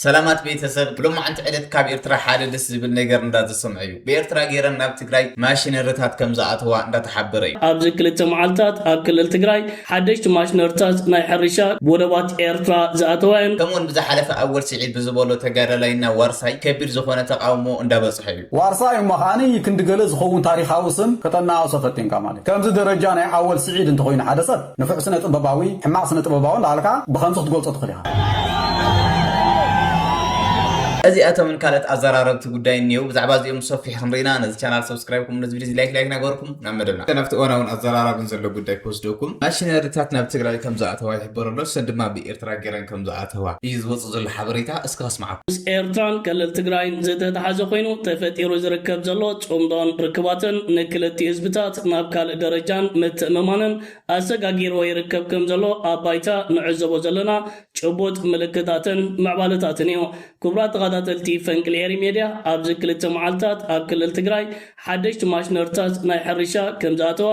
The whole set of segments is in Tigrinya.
ሰላማት ቤተሰብ ሎማዓንቲ ዕለት ካብ ኤርትራ ሓደ ደስ ዝብል ነገር እንዳተሰምዐ እዩ ብኤርትራ ገይረን ናብ ትግራይ ማሽነርታት ከምዝኣተዋ እንዳተሓበረ እዩ። ኣብዚ ክልተ መዓልታት ኣብ ክልል ትግራይ ሓደሽቲ ማሽነርታት ናይ ሕርሻ ብወደባት ኤርትራ ዝኣተዋ እየን። ከምኡውን ብዝሓለፈ ኣወል ሲዒድ ብዝበሎ ተጋዳላይና ዋርሳይ ከቢድ ዝኾነ ተቓውሞ እንዳበፅሖ እዩ። ዋርሳይ እሞ ከኣ ክንዲ ገለ ዝኸውን ታሪኻዊ ስም ከተነኣእሶ ፈቲንካ ማለት እዩ። ከምዚ ደረጃ ናይ ኣወል ሲዒድ እንተኾይኑ ሓደ ሰብ። ንፉዕ ስነ ጥበባዊ ሕማቅ ስነ ጥበባዊ እንዳበልካ ብከምዚ ክትገልጾ ትክል ኢካ። እዚኣቶምን ካልኦት ኣዘራረብቲ ጉዳይን እንየዉ ብዛዕባ እዚኦም ብሰፊሑ ክንርኢና ነዚ ቻናል ሰብስክራይብ ከምኡ ነዚ ቪድዮ እዚ ላይክ ላይክ እናገበርኩም ናብ መደብና እስከ ናብቲ እዋናውን ኣዘራራብን ዘሎ ጉዳይ ክወስደኩም ማሽነሪታት ናብ ትግራይ ከምዝኣተዋ ይሕበር ኣሎ ሰን ድማ ብ ጥራይ ገይረን ከም ዝኣተዋ እዩ ዝወጽእ ዘሎ ሓበሬታ። እስከ ከስምዓኩም። ምስ ኤርትራን ክልል ትግራይን ዝተተሓዘ ኮይኑ ተፈጢሩ ዝርከብ ዘሎ ጽምዶን ርክባትን ንክልቲኡ ህዝብታት ናብ ካልእ ደረጃን ምትእምማንን ኣሰጋጊርዎ ይርከብ ከም ዘሎ ኣብ ባይታ ንዕዘቦ ዘለና ጭቡጥ ምልክታትን ምዕባለታትን እዩ። ክቡራት ተኸታተልቲ ፈንቅል ኤሪ ሜድያ ኣብዚ ክልተ መዓልታት ኣብ ክልል ትግራይ ሓደሽቲ ማሽነርታት ናይ ሕርሻ ከምዝኣተዋ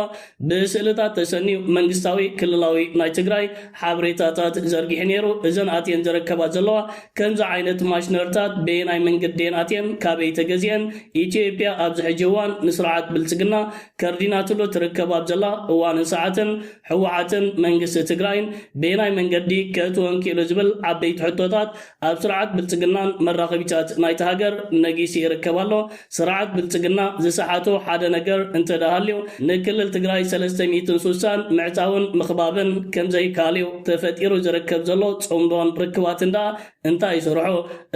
ብስእልታት ተሰንዩ መንግስታዊ ክልላዊ ናይ ትግራይ ሓበሬታታት ዘርጊሑ ነይሩ። እዘን ኣትየን ዝረከባ ዘለዋ ከምዚ ዓይነት ማሽነርታት በየናይ መንገዲ እየን ኣትየን ካበይ ተገዚኤን ኢትዮጵያ ኣብዚ ሕጂ እዋን ንስርዓት ብልፅግና ከርዲናትሉ ትርከብ ኣብ ዘላ እዋንን ሰዓትን ህወሓትን መንግስቲ ትግራይን በየናይ መንገዲ ከእትወን ኪእሉ ዝብል ዓበይቲ ሕቶታት ኣብ ስርዓት ብልጽግናን መራኸቢታት ናይታ ሃገር ነጊሱ ይርከብ ኣሎ። ስርዓት ብልጽግና ዝሰሓቶ ሓደ ነገር እንተደኣሃልዩ ንክልል ትግራይ ሰለስተ ሚእትን ሱሳን ምዕጻውን ምኽባብን ከምዘይከኣልዩ። ተፈጢሩ ዝርከብ ዘሎ ጽምዶን ርክባትን ደኣ እንታይ ይሰርሖ?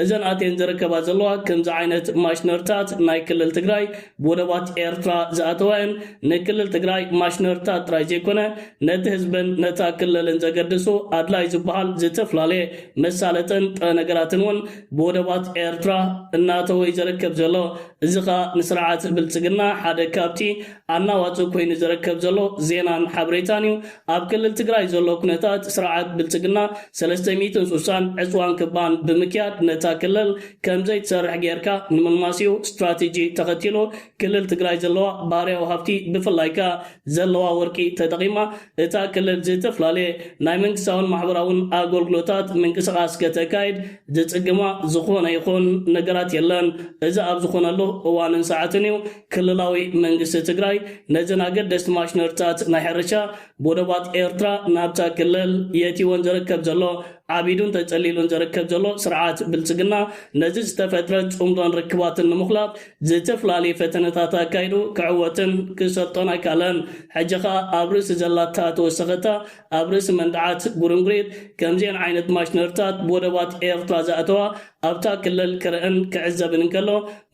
እዘን ኣትየን ዝርከባ ዘለዋ ከምዚ ዓይነት ማሽነርታት ናይ ክልል ትግራይ ብወደባት ኤርትራ ዝኣተዋየን ንክልል ትግራይ ማሽነርታት ጥራይ ዘይኮነ ነቲ ህዝብን ነታ ክልልን ዘገድሱ ኣድላይ ዝበሃል ዝተፍላለየ መሳለጥን ጥረ ነገራትን እውን ብወደባት ኤርትራ እናእተወ እዩ ዘረከብ ዘሎ። እዚ ከኣ ንስርዓት ብልጽግና ሓደ ካብቲ ኣናዋጺ ኮይኑ ዘረከብ ዘሎ ዜናን ሓበሬታን እዩ። ኣብ ክልል ትግራይ ዘሎ ኩነታት ስርዓት ብልጽግና ሰለስተ ሚእትን ሱሳን ዕጽዋን ክባን ብምክያድ ነታ ክልል ከምዘይትሰርሕ ገይርካ ንምልማስ እዩ ስትራቴጂ ተኸቲሉ ክልል ትግራይ ዘለዋ ባህርያዊ ሃፍቲ ብፍላይ ከኣ ዘለዋ ወርቂ ተጠቒማ እታ ክልል ዝተፈላለየ ናይ መንግስታውን ማሕበራውን ኣጎልግሎታት ምንቅስቓስ ከተካይድ ዝጽግማ ዝኾነ ይኹን ነገራት የለን። እዚ ኣብ ዝኾነሉ እዋንን ሰዓትን እዩ ክልላዊ መንግስቲ ትግራይ ነዘን ኣገደስቲ ማሽነሪታት ናይ ሕርሻ ብወደባት ኤርትራ ናብታ ክልል የእትይወን ዝርከብ ዘሎ። ዓቢዱን ተጸሊሉን ዝርከብ ዘሎ ስርዓት ብልጽግና ነዚ ዝተፈጥረ ጽምዶን ርክባትን ንምኹላፍ ዝተፈላለዩ ፈተነታት ኣካይዱ ክዕወትን ክሰልጦን ኣይከኣለን። ሕጂ ከኣ ኣብ ርእሲ ዘላታ ተወሰኸታ ኣብ ርእሲ መንድዓት ጉርንጉሪት ከምዚኤን ዓይነት ማሽነርታት ብወደባት ኤርትራ ዘእተዋ ኣብታ ክልል ክርእን ክዕዘብን እንከሎ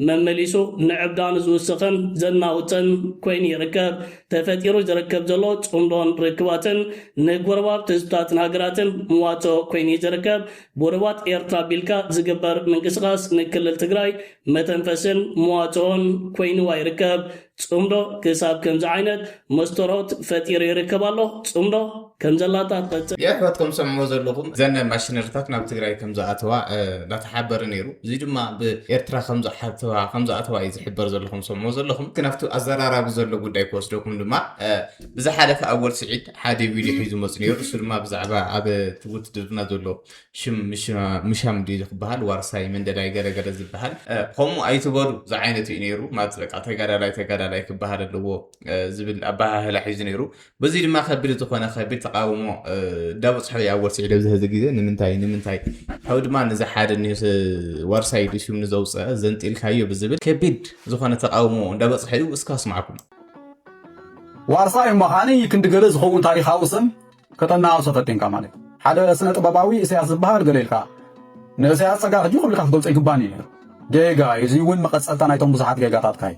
መመሊሱ ንዕብዳኑ ዝውስኽን ዘናውጽን ኮይኑ ይርከብ። ተፈጢሩ ዝርከብ ዘሎ ጽምዶን ርክባትን ንጎረባብቲ ህዝብታትን ሃገራትን መዋጽኦ ኮይኑዩ ዝርከብ። ብወደባት ኤርትራ ኣቢልካ ዝግበር ምንቅስቓስ ንክልል ትግራይ መተንፈስን መዋጽኦን ኮይንዋ ይርከብ። ጽምዶ ክሳብ ከምዚ ዓይነት መስቶሮት ፈጢሩ ይርከብ ኣሎ። ጽምዶ ከም ዘላታ ትቐጽል። የሕዋት ከም ትሰምዕዎ ዘለኹም እዘን ማሽነሪታት ናብ ትግራይ ከም ዝኣተዋ እንዳተሓበረ ነይሩ እዚ ድማ ብ ኤርትራ ከም ዝሓተዋ ከም ዝኣተዋ እዩ ዝሕበር ዘሎ ከም ትሰምዕዎ ዘለኹም ግን ኣብቲ ኣዘራራቢ ዘሎ ጉዳይ ክወስደኩም ድማ ብዝሓለፈ ኣወል ስዒድ ሓደ ቪድዮ ሒዙ መጽ ነይሩ ንሱ ድማ ብዛዕባ ኣብ እቲ ውትድርና ዘሎ ሽም ምሻም ድዩ ዝክበሃል ዋርሳይ መንደላይ ገረገረ ዝበሃል ከምኡ ኣይትበሉ ዝዓይነቱ እዩ ነይሩ ማለት በቃ ተጋዳላይ ተጋዳላይ ክበሃል ኣለዎ ዝብል ኣበሃህላ ሒዙ ነይሩ በዚ ድማ ከቢድ ዝኾነ ከቢድ ተቃውሞ እንዳበፅሖ እዩ ኣብ ወርሲ ዕደብ ዝህዚ ግዜ ንምንታይ ንምንታይ ካብ ድማ ነዚ ሓደ ኒስ ዋርሳይ ዱ ሽም ንዘውፅአ ዘንጢልካዮ ብዝብል ከቢድ ዝኾነ ተቃውሞ እንዳበፅሖ እዩ እስካ ስማዕኩም ዋርሳይ እሞ ካኣ ክንዲ ገለ ዝኸውን ታሪኻዊ ስም ከተናኣእሶ ፈቲንካ ማለት እዩ። ሓደ ስነ ጥበባዊ ኢሰያስ ዝብሃል ገለ ኢልካ ንእሰያስ ጸጋ ሕጂ ኩልካ ክትገልጾ ኣይግባን እዩ ነይሩ። ጌጋ እዩ። እዚ እውን መቐጸልታ ናይቶም ብዙሓት ጌጋታትካ እዩ።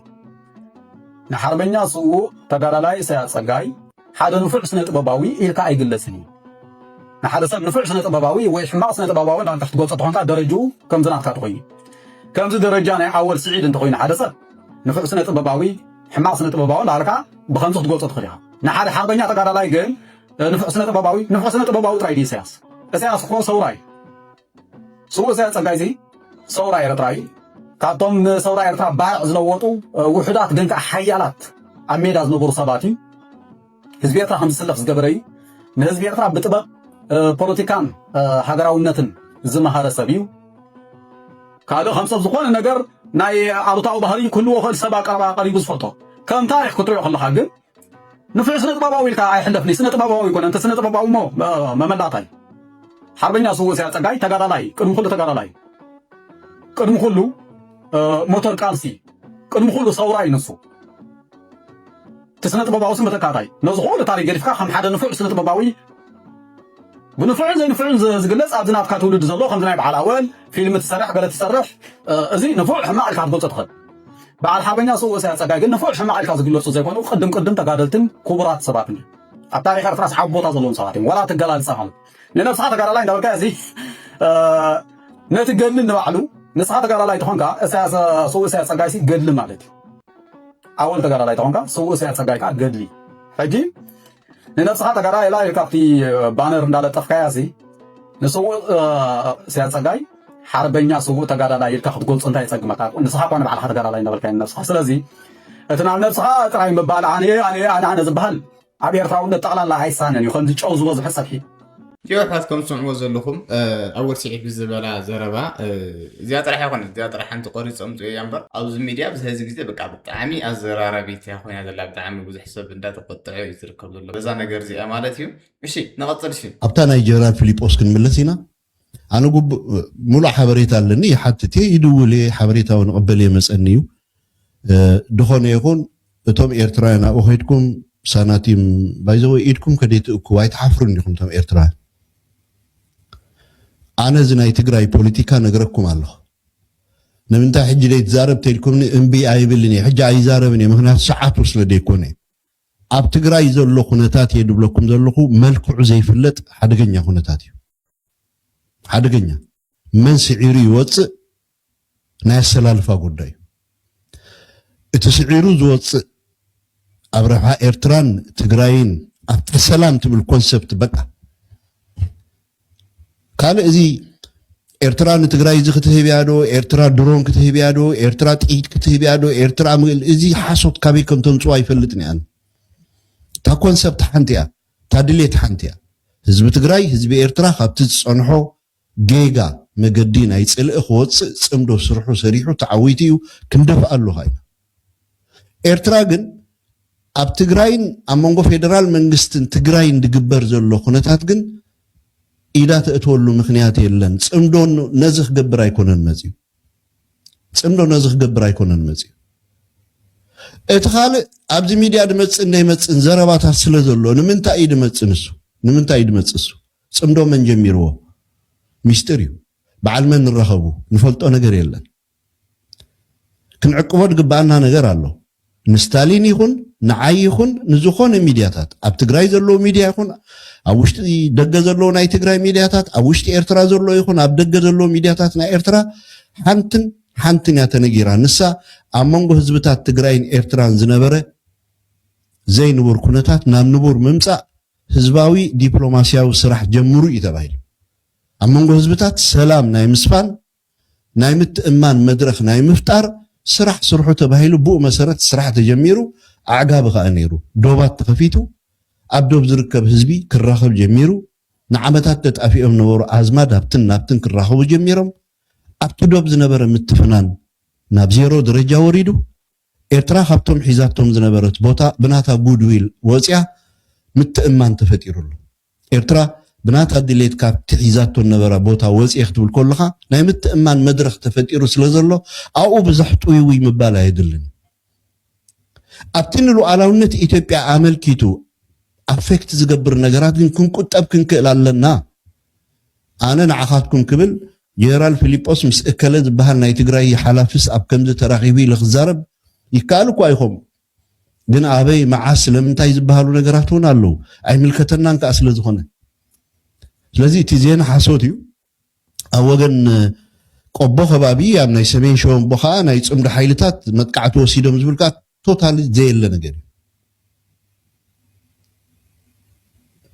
ንሓርበኛ ስዉእ ተጋዳላይ ኢሰያስ ጸጋይ ሓደ ንፉዕ ስነ ጥበባዊ ኢልካ ኣይግለጽን እዩ። ንሓደ ሰብ ንፉዕ ስነ ጥበባዊ ወይ ሕማቕ ስነ ጥበባዊ እንዳበልካ ክትገልጾ ተኾንካ ደረጅኡ ከምዚ ናትካ ተኾይኑ ከምዚ ደረጃ ናይ ኣወል ስዒድ እንተኾይኑ ሓደ ሰብ ንፉዕ ስነ ጥበባዊ ሕማቕ ስነ ጥበባዊ እንዳበልካ ብከምዚ ክትገልጾ ትኽእል ኢኻ ንሓደ ሓቕበኛ ተጋዳላይ ግን ንፉዕ ስነ ጥበባዊ ንፉዕ ስነ ጥበባዊ ጥራይ ድዩ ኢሳያስ ኢሳያስ እኮ ሰውራ እዩ ስውእ ኢሳያስ ጸጋይ እዚ ሰውራ ኤርትራ እዩ ካብቶም ንሰውራ ኤርትራ ባርዕ ዝለወጡ ውሑዳት ግን ከዓ ሓያላት ኣብ ሜዳ ዝነበሩ ሰባት እዩ ህዝቢ ኤርትራ ከም ዝስለፍ ዝገበረ እዩ። ንህዝቢ ኤርትራ ብጥበብ ፖለቲካን ሃገራውነትን ዝመሃረ ሰብ እዩ። ካልእ ከም ሰብ ዝኾነ ነገር ናይ ኣሉታዊ ባህሪ ክህልዎ ክእል ሰብ ኣቀረባ ቀሪቡ ዝፈልጦ ከም ታሪክ ክትሪኦ ከለካ ግን ንፍዕ ስነ ጥበባዊ ኢልካ ኣይሕለፍኒ ስነ ጥበባዊ ይኮነ እንተ ስነ ጥበባዊ ሞ መመላጣይ ሓርበኛ ስውእ ስያ ጸጋይ ተጋዳላይ ቅድሚ ኩሉ ተጋዳላይ ቅድሚ ኩሉ ሞተር ቃልሲ ቅድሚ ኩሉ ሰውራ ይንሱ እቲ ስነ-ጥበባዊ ስም ብተካታይ ነዚ ኩሉ ታሪኽ ገዲፍካ ከም ሓደ ንፉዕ ስነ-ጥበባዊ ብንፉዕን ዘይንፉዕን ዝግለጽ ኣብዚ ናትካ ትውልዲ ዘሎ ከምዚ ናይ በዓል ኣወል ፊልም ትሰርሕ ገለ ትሰርሕ እዚ ንፉዕ ሕማቕ ኢልካ ክትገልጾ ትኽእል በዓል ሓርበኛ ስውእ ኢሳያስ ጸጋይ ግን ንፉዕ ሕማቕ ኢልካ ዝግለጹ ዘይኮኑ ቅድም ቅድም ተጋደልትን ክቡራት ሰባትን እዮም ኣብ ታሪኽ ኤርትራ ሰዓብ ቦታ ዘለዎም ሰባት እዮም ወላ ትገላልጻ ማለት ንነብስኻ ተጋዳላይ እንዳበልካ እዚ ነቲ ገድሊ ንባዕሉ ንስኻ ተጋዳላይ ተኾንካ እሳያስ ስውእ እሳያስ ጸጋይሲ ገድሊ ማለት እዩ ኣወል ተጋዳላይ ተኾንካ ስውእ ሰያድ ጸጋይ ከኣ ገድሊ ሕጂ ንነብስኻ ተጋዳላይ ኢላ ኢልካ ኣብቲ ባነር እንዳለጠፍካያ ሲ ንስውእ ሰያድ ጸጋይ ሓርበኛ ስውእ ተጋዳላይ ኢልካ ክትገልጾ እንታይ የጸግመካ? ንስኻ እኳ ንባዕልኻ ተጋዳላይ እንዳበልካ ንነብስኻ። ስለዚ እቲ ናብ ነብስኻ ጥራይ ምባል ኣነ ኣነ ኣነ ኣነ ዝበሃል ኣብ ኤርትራውነት ጠቕላላ ኣይሳነን እዩ ከምዚ ጨው ዝበዝሖ ጸብሒ። ቲዮ ኣሕዋት ከም ትሰምዕዎ ዘለኹም ኣወል ስዒድ ብዝበላ ዘረባ እዚኣ ጥራሕ ኣይኮነት እዚኣ ጥራሕ ሓንቲ ቆሪፅ ኣምፅኦ እያ እምበር ኣብዚ ሚድያ ኣብዚ ሕዚ ግዜ በቃ ብጣዕሚ ኣዘራራቢት እያ ኮይና ዘላ ብጣዕሚ ብዙሕ ሰብ እንዳተቆጠዐ እዩ ዝርከብ ዘሎ በዛ ነገር እዚኣ ማለት እዩ እሺ ንቐፅል እሺ ኣብታ ናይ ጀነራል ፊሊጶስ ክንምለስ ኢና ኣነ ጉቡእ ሙሉእ ሓበሬታ ኣለኒ ይሓትት እየ ይድውል እየ ሓበሬታ ውን እቕበል እየ መፀኒ እዩ ድኾነ ይኹን እቶም ኤርትራውያን ኣብኡ ከይድኩም ሳናቲም ባይዘወይ ኢድኩም ከደይ ትእክቡ ኣይትሓፍሩን ዲኹም እቶም ኤርትራውያን ኣነ እዚ ናይ ትግራይ ፖለቲካ ነግረኩም ኣለኹ ንምንታይ ሕጂ ደይትዛረብ ተልኩምኒ እምቢ ኣይብልን እየ ሕጂ ኣይዛረብን እየ ምክንያቱ ሰዓቱ ስለ ደይኮነ ኣብ ትግራይ ዘሎ ኩነታት እየ ድብለኩም ዘለኹ መልክዑ ዘይፍለጥ ሓደገኛ ኩነታት እዩ ሓደገኛ መን ስዒሩ ይወፅእ ናይ ኣሰላልፋ ጉዳይ እዩ እቲ ስዒሩ ዝወፅእ ኣብ ረብሓ ኤርትራን ትግራይን ኣብታ ሰላም ትብል ኮንሰፕት በቃ ካልእ እዚ ኤርትራ ንትግራይ እዚ ክትህብ እያ ዶ ኤርትራ ድሮን ክትህብ እያ ዶ ኤርትራ ጥይት ክትህብ እያ ዶ ኤርትራ እዚ ሓሶት ካበይ ከም ተምፅኦ ኣይፈልጥን እያ እታ ኮንሰፕት ሓንቲ እያ እታ ድሌት ሓንቲ እያ ህዝቢ ትግራይ ህዝቢ ኤርትራ ካብቲ ዝፀንሖ ጌጋ መገዲ ናይ ፅልኢ ክወፅእ ፅምዶ ስርሑ ሰሪሑ ተዓዊቱ እዩ ክንደፍኣ ኣለኻ ኢና ኤርትራ ግን ኣብ ትግራይን ኣብ መንጎ ፌደራል መንግስትን ትግራይን ዝግበር ዘሎ ኩነታት ግን ኢዳ ተእትወሉ ምኽንያት የለን። ጽምዶ ነዚ ክገብር ኣይኮነን መጺኡ። ጽምዶ ነዚ ክገብር ኣይኮነን መጺኡ። እቲ ካልእ ኣብዚ ሚድያ ድመጽእን ደይመጽእን ዘረባታት ስለ ዘሎ ንምንታይ እዩ ድመጽእ ንሱ ንምንታይ እዩ ድመጽእ እሱ ጽምዶ መን ጀሚርዎ ሚስጢር እዩ በዓል መን ንራኸቡ ንፈልጦ ነገር የለን። ክንዕቅቦ ድግበኣና ነገር ኣሎ ንስታሊን ይኹን ንዓይ ይኹን ንዝኾነ ሚድያታት ኣብ ትግራይ ዘለዉ ሚድያ ይኹን ኣብ ውሽጢ ደገ ዘለዉ ናይ ትግራይ ሚድያታት ኣብ ውሽጢ ኤርትራ ዘሎ ይኹን ኣብ ደገ ዘለዉ ሚድያታት ናይ ኤርትራ ሓንትን ሓንትን እያ ተነጊራ ንሳ ኣብ መንጎ ህዝብታት ትግራይን ኤርትራን ዝነበረ ዘይንቡር ኩነታት ናብ ንቡር ምምፃእ ህዝባዊ ዲፕሎማስያዊ ስራሕ ጀምሩ እዩ ተባሂሉ ኣብ መንጎ ህዝብታት ሰላም ናይ ምስፋን ናይ ምትእምማን መድረኽ ናይ ምፍጣር ስራሕ ስርሑ ተባሂሉ ብኡ መሰረት ስራሕ ተጀሚሩ ኣዕጋቢ ከኣ ነይሩ። ዶባት ተኸፊቱ ኣብ ዶብ ዝርከብ ህዝቢ ክራኸብ ጀሚሩ። ንዓመታት ተጣፊኦም ነበሩ ኣዝማድ ኣብትን ናብትን ክራኸቡ ጀሚሮም። ኣብቲ ዶብ ዝነበረ ምትፍናን ናብ ዜሮ ደረጃ ወሪዱ። ኤርትራ ካብቶም ሒዛቶም ዝነበረት ቦታ ብናታ ጉድ ዊል ወጽያ ምትእምማን ተፈጢሩ ኣሎ። ኤርትራ ብናታ ድሌት ካብቲ ሒዛቶ ዝነበራ ቦታ ወጽየ ክትብል ከሎኻ ናይ ምትእምማን መድረኽ ተፈጢሩ ስለ ዘሎ ኣብኡ ብዘሕ ጥውይውይ ምባል ኣየድልን እዩ። ኣብቲ ንሉኣላውነት ኢትዮጵያ ኣመልኪቱ ኣፌክት ዝገብር ነገራት ግን ክንቁጠብ ክንክእል ኣለና። ኣነ ንዓኻትኩም ክብል ጀነራል ፊሊጶስ ምስ እከለ ዝበሃል ናይ ትግራይ ሓላፊስ ኣብ ከምዚ ተራኺቡ ኢለ ክዛረብ ይከኣል እኳ ይኾም ግን ኣበይ መዓስ ስለምንታይ ዝበሃሉ ነገራት እውን ኣለዉ ኣይምልከተናን ከዓ ስለ ዝኾነ ስለዚ እቲ ዜና ሓሶት እዩ ኣብ ወገን ቆቦ ከባቢ ኣብ ናይ ሰሜን ሸወንቦ ከዓ ናይ ፅምዶ ሓይልታት መጥቃዕቲ ወሲዶም ዝብል ከዓ ቶታሊ ዘየለ ነገር እዩ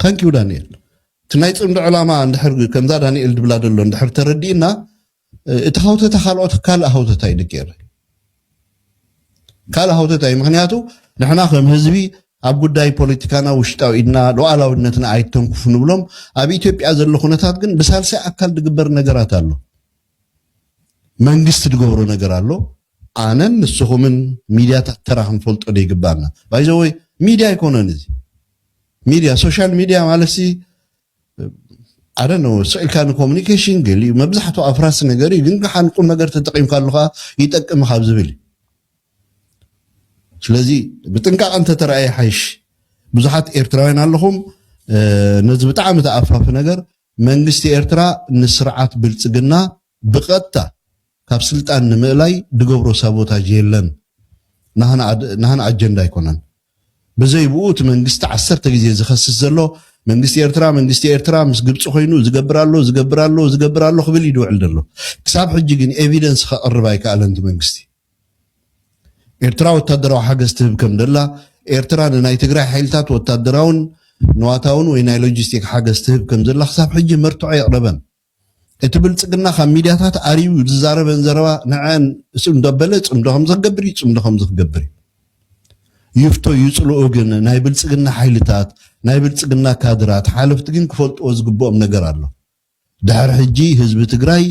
ታንኪዩ ዳንኤል እቲ ናይ ጽምዶ ዕላማ እንድሕር ከምዛ ዳኒኤል ድብላ ደሎ እንድሕር ተረዲእና እቲ ሃውተታ ካልኦት ካልእ ሃውተታ እዩ ድገይረ ካልእ ሃውተታ እዩ ምክንያቱ ንሕና ከም ህዝቢ ኣብ ጉዳይ ፖለቲካና ውሽጣዊ ኢድና ሉዓላዊነትና ኣይተንኩፉ ንብሎም ኣብ ኢትዮጵያ ዘሎ ኩነታት ግን ብሳልሳይ ኣካል ድግበር ነገራት ኣሎ መንግስቲ ድገብሮ ነገር ኣሎ ኣነን ንስኹምን ሚድያታት ተራ ክንፈልጦ ዶ ይግባና ባይዘወይ ሚድያ ኣይኮነን እዚ ሚድያ ሶሻል ሚድያ ማለትሲ ኣደነ ስዒልካ ንኮሚኒኬሽን ገሊኡ መብዛሕትኡ ኣፍራሲ ነገር እዩ ግን ከዓ ንቁም ነገር ተጠቂምካሉ ከዓ ይጠቅም ካብ ዝብል ስለዚ ብጥንቃቐ እንተተረኣየ ሓይሽ ብዙሓት ኤርትራውያን ኣለኹም ነዚ ብጣዕሚ ተኣፋፊ ነገር መንግስቲ ኤርትራ ንስርዓት ብልጽግና ብቐጥታ ካብ ስልጣን ንምእላይ ድገብሮ ሳቦታጅ የለን ናህና ኣጀንዳ ኣይኮነን ብዘይ ብኡ እቲ መንግስቲ ዓሰርተ ግዜ ዝኸስስ ዘሎ መንግስቲ ኤርትራ መንግስቲ ኤርትራ ምስ ግብጺ ኮይኑ ዝገብር ኣሎ ዝገብር ኣሎ ዝገብር ኣሎ ክብል እዩ ድውዕል ዘሎ ክሳብ ሕጂ ግን ኤቪደንስ ከቕርብ ኣይከኣለን እቲ መንግስቲ ኤርትራ ወታደራዊ ሓገዝ ትህብ ከም ዘላ፣ ኤርትራ ንናይ ትግራይ ሓይልታት ወታደራውን ንዋታውን ወይ ናይ ሎጂስቲክ ሓገዝ ትህብ ከም ዘላ ክሳብ ሕጂ መርትዖ የቕረበን። እቲ ብልጽግና ካብ ሚድያታት ኣርዩ ዝዛረበን ዘረባ ንዐን እሱ እንዳበለ ጽምዶ ከምዝክገብር እዩ ጽምዶ ከምዝክገብር እዩ። ይፍቶ ይጽልኡ ግን ናይ ብልጽግና ሓይልታት ናይ ብልጽግና ካድራት ሓለፍቲ ግን ክፈልጥዎ ዝግብኦም ነገር ኣሎ። ድሕሪ ሕጂ ህዝቢ ትግራይ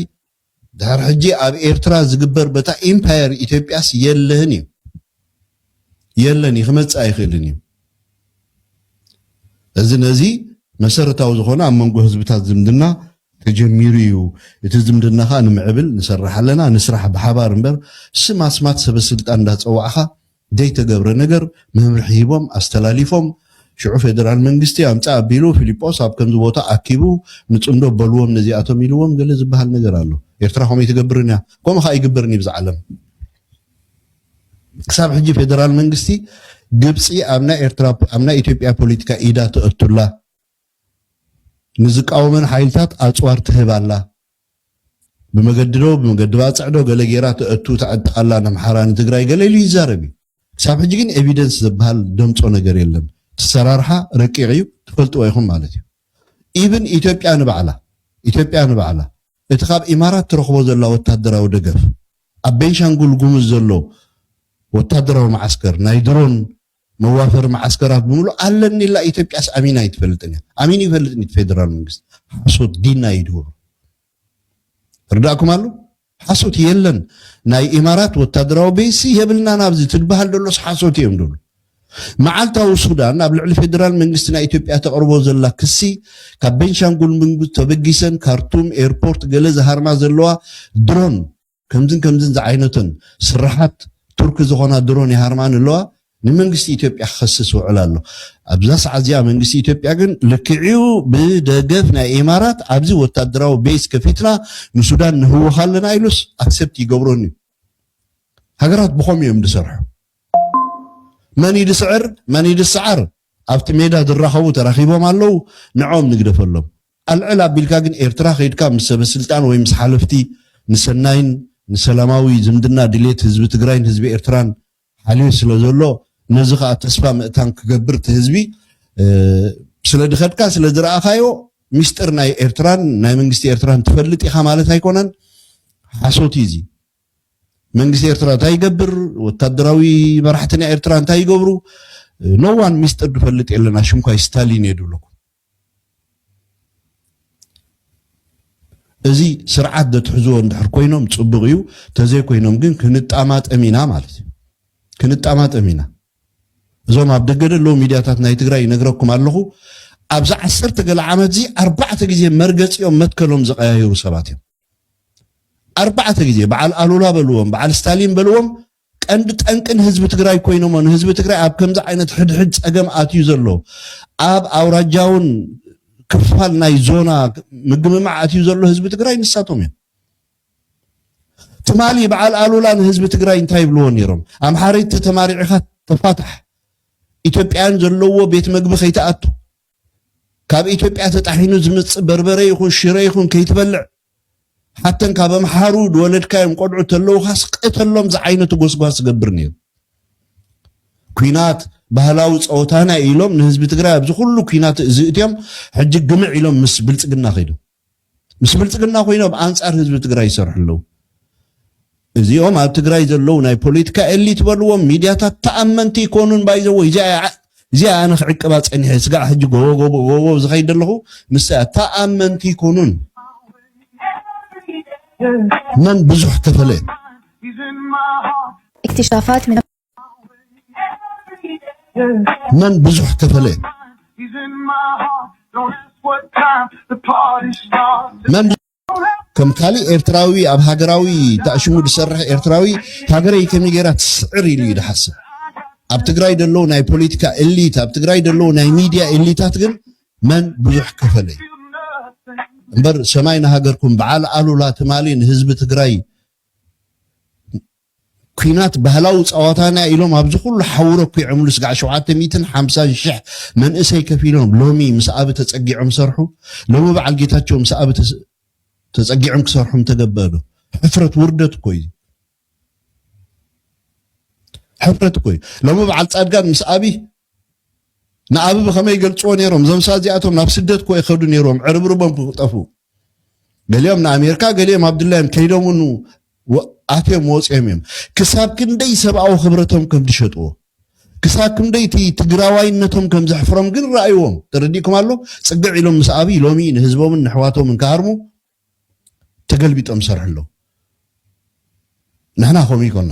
ድሓር ሕጂ ኣብ ኤርትራ ዝግበር በታ ኢምፓየር ኢትዮጵያስ የለህን እዩ የለን እዩ ክመጽእ ኣይክእልን እዩ እዚ ነዚ መሰረታዊ ዝኾነ ኣብ መንጎ ህዝብታት ዝምድና ተጀሚሩ እዩ እቲ ዝምድና ከኣ ንምዕብል ንሰርሕ ኣለና ንስራሕ ብሓባር እምበር ስም ኣስማት ሰበስልጣን እንዳጸዋዕካ ዘይተገብረ ነገር መምርሒ ሂቦም ኣስተላሊፎም ሽዑ ፌደራል መንግስቲ ኣምጽእ ኣቢሉ ፊሊጶስ ኣብ ከምዚ ቦታ ኣኪቡ ንጽምዶ በልዎም ነዚኣቶም ኢልዎም ገለ ዝበሃል ነገር ኣሎ ኤርትራ ከምኡ ኣይትገብርን እያ ከምኡ ከኣ ኣይግበርን እዩ ብዝዓለም ክሳብ ሕጂ ፌደራል መንግስቲ ግብጺ ኣብ ናይ ኤርትራ ኣብ ናይ ኢትዮጵያ ፖለቲካ ኢዳ ተእቱላ ንዝቃወመን ሓይልታት ኣጽዋር ትህብ ኣላ ብመገዲ ዶ ብመገዲ ባጽዕ ዶ ገለ ጌራ ተእቱ ተዕጥቕ ኣላ ነምሓራ ንትግራይ ገለ ኢሉ ይዛረብ እዩ ክሳብ ሕጂ ግን ኤቪደንስ ዘበሃል ደምጾ ነገር የለን እቲ ኣሰራርሓ ረቂቕ እዩ ትፈልጥዎ ኢኹም ማለት እዩ ኢቭን ኢትዮጵያ ንባዕላ ኢትዮጵያ ንባዕላ እቲ ካብ ኢማራት ትረኽቦ ዘላ ወታደራዊ ደገፍ ኣብ ቤንሻንጉል ጉሙዝ ዘሎ ወታደራዊ መዓስከር ናይ ድሮን መዋፈሪ መዓስከራት ብምሉእ ኣለኒ ኢላ ኢትዮጵያስ ኣሚና ኣይትፈልጥን እያ ኣሚኑ ይፈልጥ ኒቲ ፌደራል መንግስቲ ሓሶት ዲና ይድወሩ ርዳእኩም ኣሎ ሓሶት የለን ናይ ኢማራት ወታደራዊ ቤሲ የብልናን ኣብዚ ትድበሃል ደሎስ ሓሶት እዮም ደሉ መዓልታዊ ሱዳን ኣብ ልዕሊ ፌደራል መንግስቲ ናይ ኢትዮጵያ ተቕርቦ ዘላ ክሲ ካብ ቤንሻንጉል መንግስቲ ተበጊሰን ካርቱም ኤርፖርት ገለ ዝሃርማ ዘለዋ ድሮን ከምዝን ከምዝን ዝዓይነቱን ስርሓት ቱርኪ ዝኾና ድሮን ይሃርማን ኣለዋ ንመንግስቲ ኢትዮጵያ ክኸስስ ውዕል ኣሎ ኣብዛ ሰዓት እዚኣ መንግስቲ ኢትዮጵያ ግን ልክዕኡ ብደገፍ ናይ ኢማራት ኣብዚ ወታደራዊ ቤስ ከፊትና ንሱዳን ንህወኽ ኣለና ኢሉስ ኣክሰፕት ይገብሮን እዩ ሃገራት ብኸም እዮም ዝሰርሑ መን ይድስዕር መን ይድስዓር ኣብቲ ሜዳ ዝራኸቡ ተራኺቦም ኣለዉ ንዖም ንግደፈሎም ኣልዕል ኣቢልካ ግን ኤርትራ ከይድካ ምስ ሰበስልጣን ወይ ምስ ሓለፍቲ ንሰናይን ንሰላማዊ ዝምድና ድሌት ህዝቢ ትግራይን ህዝቢ ኤርትራን ሓልዩ ስለ ዘሎ ነዚ ከኣ ተስፋ ምእታን ክገብር እቲ ህዝቢ ስለ ድኸድካ ስለ ድረኣኻዮ ሚስጥር ናይ ኤርትራን ናይ መንግስቲ ኤርትራን ትፈልጥ ኢኻ ማለት ኣይኮነን ሓሶት እዩ እዚ መንግስቲ ኤርትራ እንታይ ይገብር ወታደራዊ መራሕቲ ናይ ኤርትራ እንታይ ይገብሩ ኖዋን ሚስጥር ድፈልጥ የለን ኣሽምኳይ ስታሊን እየ ድብለኩም እዚ ስርዓት ዘትሕዝዎ እንድሕር ኮይኖም ፅቡቕ እዩ ተዘይኮይኖም ግን ክንጣማጠም ኢና ማለት እዩ ክንጣማጠም ኢና እዞም ኣብ ደገ ደለዉ ሚድያታት ናይ ትግራይ ይነግረኩም ኣለኹ ኣብዚ ዓሰርተ ገለ ዓመት እዚ ኣርባዕተ ግዜ መርገፂኦም መትከሎም ዝቀያየሩ ሰባት እዮም ኣርባዕተ ግዜ በዓል ኣሉላ በልዎም በዓል ስታሊን በልዎም ቀንዲ ጠንቂ ንህዝቢ ትግራይ ኮይኖሞ ንህዝቢ ትግራይ ኣብ ከምዚ ዓይነት ሕድሕድ ፀገም ኣትዩ ዘሎ ኣብ ኣውራጃውን ክፋል ናይ ዞና ምግምማዕ ኣትዩ ዘሎ ህዝቢ ትግራይ ንሳቶም እዮም። ትማሊ በዓል ኣሉላ ንህዝቢ ትግራይ እንታይ ይብልዎ ነይሮም? ኣምሓረይ ተተማሪዕኻ ተፋታሕ ኢትዮጵያን ዘለዎ ቤት መግቢ ከይትኣቱ ካብ ኢትዮጵያ ተጣሒኑ ዝመጽእ በርበረ ይኹን ሽረ ይኹን ከይትበልዕ ሓተን ካብ ኣምሓሩ ዝወለድካዮም ቆልዑ ተለውካ ስቀተሎም ዝዓይነቱ ጎስጓስ ዝገብር ነይሩ ኩናት ባህላዊ ፀወታና ኢሎም ንህዝቢ ትግራይ ኣብዚ ኩሉ ኩናት እዚ እትዮም ሕጂ ግምዕ ኢሎም ምስ ብልፅግና ከይዶም ምስ ብልፅግና ኮይኖም ኣንፃር ህዝቢ ትግራይ ይሰርሑ ኣለው። እዚኦም ኣብ ትግራይ ዘለው ናይ ፖለቲካ ኤሊት በልዎም ሚድያታት ተኣመንቲ ኣይኮኑን ባይዘወይ እዚኣ እዚኣ ኣነ ክዕቅባ ፀኒሐ ስጋዕ ሕጂ ጎቦጎቦጎቦ ዝኸይድ ኣለኹ ንሳ ተኣመንቲ ኣይኮኑን መን ብዙሕ ከፈለ እክትሻፋት መን ብዙሕ ከፈለ መን ከም ካልእ ኤርትራዊ ኣብ ሃገራዊ ተኣሽሙ ዝሰርሕ ኤርትራዊ ሃገረይ ከመይ ጌራ ትስዕር ኢሉ እዩ ዝሓስብ ኣብ ትግራይ ደለዉ ናይ ፖለቲካ ኤሊት ኣብ ትግራይ ደለዉ ናይ ሚድያ ኤሊታት ግን መን ብዙሕ ከፈለ እዩ እምበር ሰማይ ንሃገርኩም በዓል ኣሉላ ትማሊ ንህዝቢ ትግራይ ኲናት ባህላዊ ጸዋታና'ዩ ኢሎም ኣብዚ ኩሉ ሓውረ ኲዕምሉ ስጋዕ ሸውዓተ ሚእትን ሓምሳን ሽሕ መንእሰይ ከፊሎም ሎሚ ምስ ኣቢ ተጸጊዖም ሰርሑ ሎሚ በዓል ጌታቸው ምስ ኣቢ ተጸጊዕም ክሰርሑ ምተገበእ ዶ ሕፍረት ውርደት እኮ እዩ ሕፍረት እኮ እዩ ሎሚ በዓል ጻድቃን ምስ ኣቢ ንኣቢ ብኸመይ ይገልጽዎ ነይሮም? እዞም ሰባት እዚኣቶም ናብ ስደት እኮ ይኸዱ ነይሮም ዕርብርቦም ክጠፉ። ገሊኦም ንኣሜሪካ ገሊኦም ኣብድላዮም ከይዶም ውን ኣትዮም ወጽዮም እዮም። ክሳብ ክንደይ ሰብኣዊ ክብረቶም ከም ዝሸጥዎ ክሳብ ክንደይ እቲ ትግራዋይነቶም ከም ዘሕፍሮም ግን ረኣይዎም። ተረዲእኩም ኣሎ? ጽግዕ ኢሎም ምስ ኣብይ ሎሚ ንህዝቦምን ንሕዋቶምን ክሃርሙ ተገልቢጦም ሰርሑ ኣለዉ። ንሕና ከምኡ ይኮና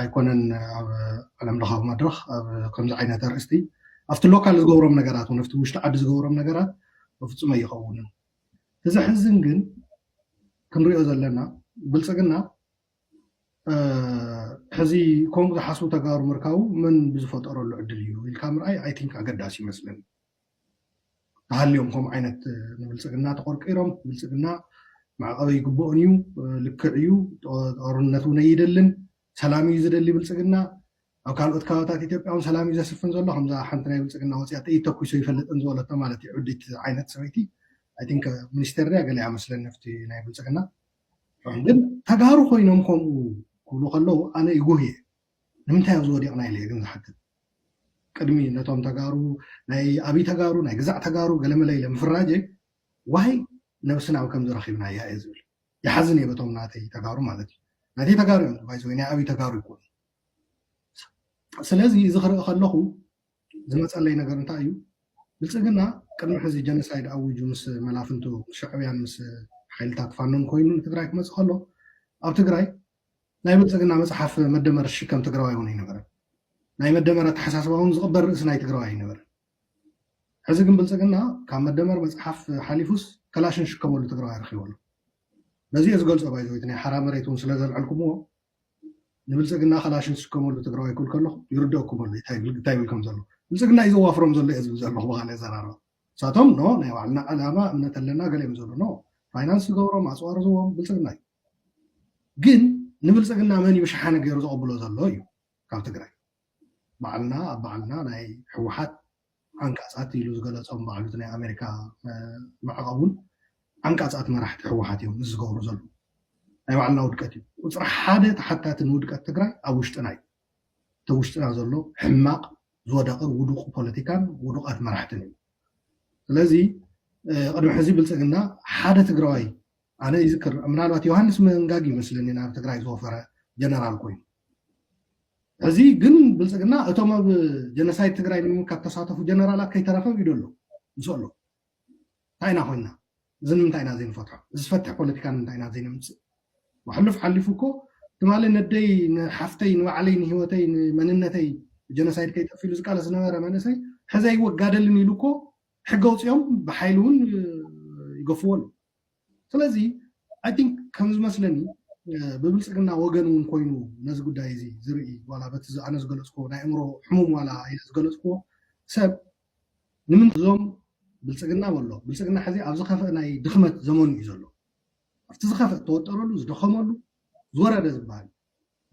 ኣይኮነን ኣብ ዓለም ለኻዊ መድረኽ ኣብ ከምዚ ዓይነት ኣርእስቲ ኣብቲ ሎካል ዝገብሮም ነገራት እውን ኣብቲ ውሽጢ ዓዲ ዝገብሮም ነገራት በፍፁም ኣይኸውንን እቲ ዘሕዝን ግን ክንሪኦ ዘለና ብልፅግና ሕዚ ከምኡ ዝሓስቡ ተጋሩ ምርካቡ መን ብዝፈጠረሉ ዕድል እዩ ኢልካ ምርኣይ ኣይቲንክ ኣገዳሲ ይመስለኒ ተሃልዮም ከምኡ ዓይነት ንብልፅግና ተቆርቂሮም ብልፅግና ማዕቐብ ይግበኦን እዩ ልክዕ እዩ ጦርነት እውን ኣይደልን ሰላም እዩ ዝደሊ ብልፅግና ኣብ ካልኦት ከባብታት ኢትዮጵያ እውን ሰላም እዩ ዘስፍን ዘሎ ከምዛ ሓንቲ ናይ ብልፅግና ወፅያ ጥይት ተኩሶ ይፈልጥን ዝበለቶ ማለት እዩ ዕዲት ዓይነት ሰበይቲ ኣይ ቲንክ ሚኒስቴር ድያ ገሊኣ መስለኒ ኣብቲ ናይ ብልፅግና ግን ተጋሩ ኮይኖም ከምኡ ክብሉ ከለዉ ኣነ ይጉህ እየ ንምንታይ ኣብዚ ወዲቅና ኢለየ ግን ዝሓትት ቅድሚ ነቶም ተጋሩ ናይ ኣብይ ተጋሩ ናይ ግዛዕ ተጋሩ ገለመለ ኢለ ምፍራጀይ ዋይ ነብስና ኣብ ከምዚ ረኪብናያ እየ ዝብል ይሓዝን እየ በቶም ናተይ ተጋሩ ማለት እዩ ናተይ ተጋሩ እዮም ባይዘ ናይ ኣብይ ተጋሩ ይኮኑ ስለዚ እዚ ክርኢ ከለኹ ዝመፀለይ ነገር እንታይ እዩ ብልፅግና ቅድሚ ሕዚ ጀኖሳይድ ኣውጁ ምስ መላፍንቱ ሻዕብያን ምስ ሓይልታት ፋኖን ኮይኑ ንትግራይ ክመፅእ ከሎ ኣብ ትግራይ ናይ ብልፅግና መፅሓፍ መደመር ዝሽከም ትግራዋይ እውን ኣይነበረን። ናይ መደመር ኣተሓሳስባ እውን ዝቕበል ርእሲ ናይ ትግራዋይ ኣይነበረን። ሕዚ ግን ብልፅግና ካብ መደመር መፅሓፍ ሓሊፉስ ከላሽን ዝሽከመሉ ትግራዋይ ረኺቡ ኣሎ። በዚ እየ ዝገልፆ ባይዘወይቲ ናይ ሓራ መሬት እውን ስለዘልዐልኩምዎ ንብልፅግና ከላሽን ዝሽከመሉ ትግራዋይ ክብል ከለኹ ይርደእኩም ኣሎ እንታይ ይብል እንታይ ይብል ከም ዘሎ ብልፅግና እዩ ዘዋፍሮም ዘሎ እየ ዝብል ዘለኹ ብካልእ ኣዘራርባ ንሳቶም ኖ ናይ ባዕልና ዕላማ እምነት ኣለና ገለ እዮም ዝብሉ ኖ ፋይናንስ ዝገብሮም ኣፅዋር ዝዎም ብልፅግና እዩ ግን ንብልፅግና መን እዩ ሸሓኒ ገይሩ ዘቐብሎ ዘሎ እዩ ካብ ትግራይ ባዕልና ኣብ ባዕልና ናይ ህወሓት ዓንቃፃት ኢሉ ዝገለፆም ባዕሉ ናይ ኣሜሪካ ማዕቐብ እውን ዓንቃፃት መራሕቲ ህወሓት እዮም ምስ ዝገብሩ ዘሉ ናይ ባዕልና ውድቀት እዩ ቁፅሪ ሓደ ተሓታቲ ንውድቀት ትግራይ ኣብ ውሽጥና እዩ እቲ ውሽጥና ዘሎ ሕማቅ ዝወደቀ ውዱቅ ፖለቲካን ውዱቃት መራሕትን እዩ ስለዚ ቅድሚ ሕዚ ብልፅግና ሓደ ትግራዋይ ኣነ ይዝክር ምናልባት ዮሃንስ መንጋግ እዩ መስለኒ ናብ ትግራይ ዝወፈረ ጀነራል ኮይኑ እዚ ግን ብልፅግና እቶም ኣብ ጀነሳይድ ትግራይ ንምምካት ተሳተፉ ጀነራላት ከይተረፈ ኢዶ ኣሎ ምስ ኣሎ እንታይ ኢና ኮይና እዚ ንምንታይ ኢና ዘይንፈትሖ እዚ ዝፈትሕ ፖለቲካ ንምንታይ ኢና ዘይነምፅእ ወሕሉፍ ሓሊፉ እኮ ትማሊ ነደይ ንሓፍተይ ንባዕለይ ንሂወተይ ንመንነተይ ጀነሳይድ ከይጠፍ ኢሉ ዝቃለስ ዝነበረ መንእሰይ ሕዘ ይወጋደልን ኢሉ እኮ ሕገ ውፅኦም ብሓይሊ እውን ይገፍዎ ኣሎ ስለዚ ኣይ ቲንክ ከም ዝመስለኒ ብብልፅግና ወገን እውን ኮይኑ ነዚ ጉዳይ እዚ ዝርኢ ዋላ በቲ ኣነ ዝገለፅክዎ ናይ ኣእምሮ ሕሙም ዋላ ኢለ ዝገለፅክዎ ሰብ ንምንት እዞም ብልፅግና በሎ ብልፅግና ሕዚ ኣብ ዝኸፍእ ናይ ድኽመት ዘመኑ እዩ ዘሎ ኣብቲ ዝኸፍእ ተወጠረሉ ዝደኸመሉ ዝወረደ ዝበሃል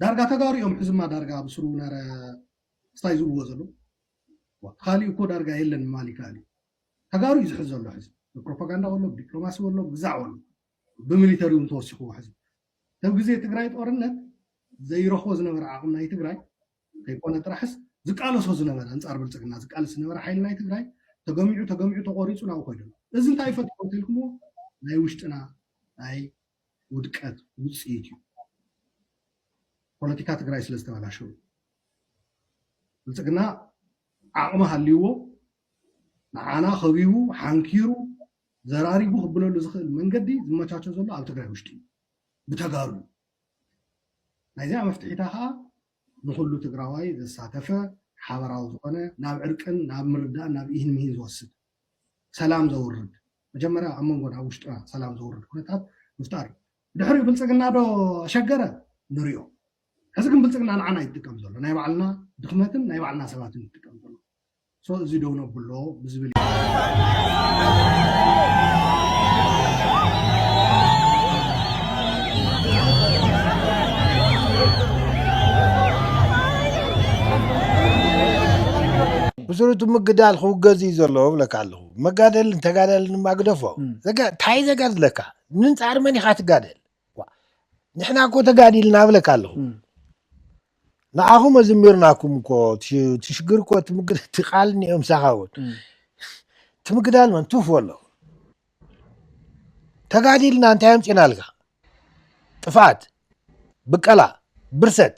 ዳርጋ ተጋሩ እዮም ሕዝማ ዳርጋ ኣብ ስሩ ነረ ስታይ ዝብልዎ ዘለዉ ካልእ እኮ ዳርጋ የለን ምባል ይከኣል እዩ ተጋሩ እዩ ዝሕዝ ዘሎ ሕዚ ብፕሮፓጋንዳ ወሎ ብዲፕሎማሲ ወሎ ብግዛዕ ወሎ ብሚሊተሪ እውን ተወሲኽዎ ሕዚ ተብ ግዜ ትግራይ ጦርነት ዘይረኽቦ ዝነበረ ዓቕሚ ናይ ትግራይ ከይኮነ ጥራሕስ ዝቃለሶ ዝነበረ ኣንፃር ብልፅግና ዝቃለስ ዝነበረ ሓይሊ ናይ ትግራይ ተገሚዑ ተገሚዑ ተቆሪፁ ናብኡ ኮይዱ ኣሎ እዚ እንታይ ይፈጥሮ እንተልኩምዎ ናይ ውሽጥና ናይ ውድቀት ውፅኢት እዩ ፖለቲካ ትግራይ ስለ ዝተበላሸው ብልፅግና ዓቕሚ ሃልይዎ ንዓና ከቢቡ ሓንኪሩ ዘራሪጉ ክብለሉ ዝኽእል መንገዲ ዝመቻቸ ዘሎ ኣብ ትግራይ ውሽጢ እዩ ብተጋሩ እዩ ናይዚኣ መፍትሒታ ከዓ ንኩሉ ትግራዋይ ዘሳተፈ ሓበራዊ ዝኾነ ናብ ዕርቅን ናብ ምርዳእን ናብ ኢህን ምሂን ዝወስድ ሰላም ዘውርድ መጀመርያ ኣብ መንጎና ኣብ ውሽጥና ሰላም ዘውርድ ኩነታት ምፍጣር እዩ ድሕሪ ብልፅግና ዶ ኣሸገረ ንሪኦ ሕዚ ግን ብልፅግና ንዓና ይጥቀም ዘሎ ናይ ባዕልና ድኽመትን ናይ ባዕልና ሰባትን ይጥቀም ዘሎ ሶ እዚ ደው ነብሎ ብዝብል ብስሩ እቲ ምግዳል ክውገዝ እዩ ዘለዎ ብለካ ኣለኹ መጋደልን ተጋዳልን ድማ ግደፎ እም። ዘጋ- እንታይ ዘጋድለካ ንንጻር መን ኢኻ ትጋደል ንሕና እኮ ተጋዲልና እብለካ ኣለኹ ንኣኹም ኣዝሚርናኩም እኮ እቲ ሽግር እኮ እቲ ቃል እኒኦ ምሳኻ እውን እቲ ምግዳል መን ቱፍ በሎ ተጋዲልና እንታይ ኣምፂናልካ ጥፍኣት ብቀላ ብርሰት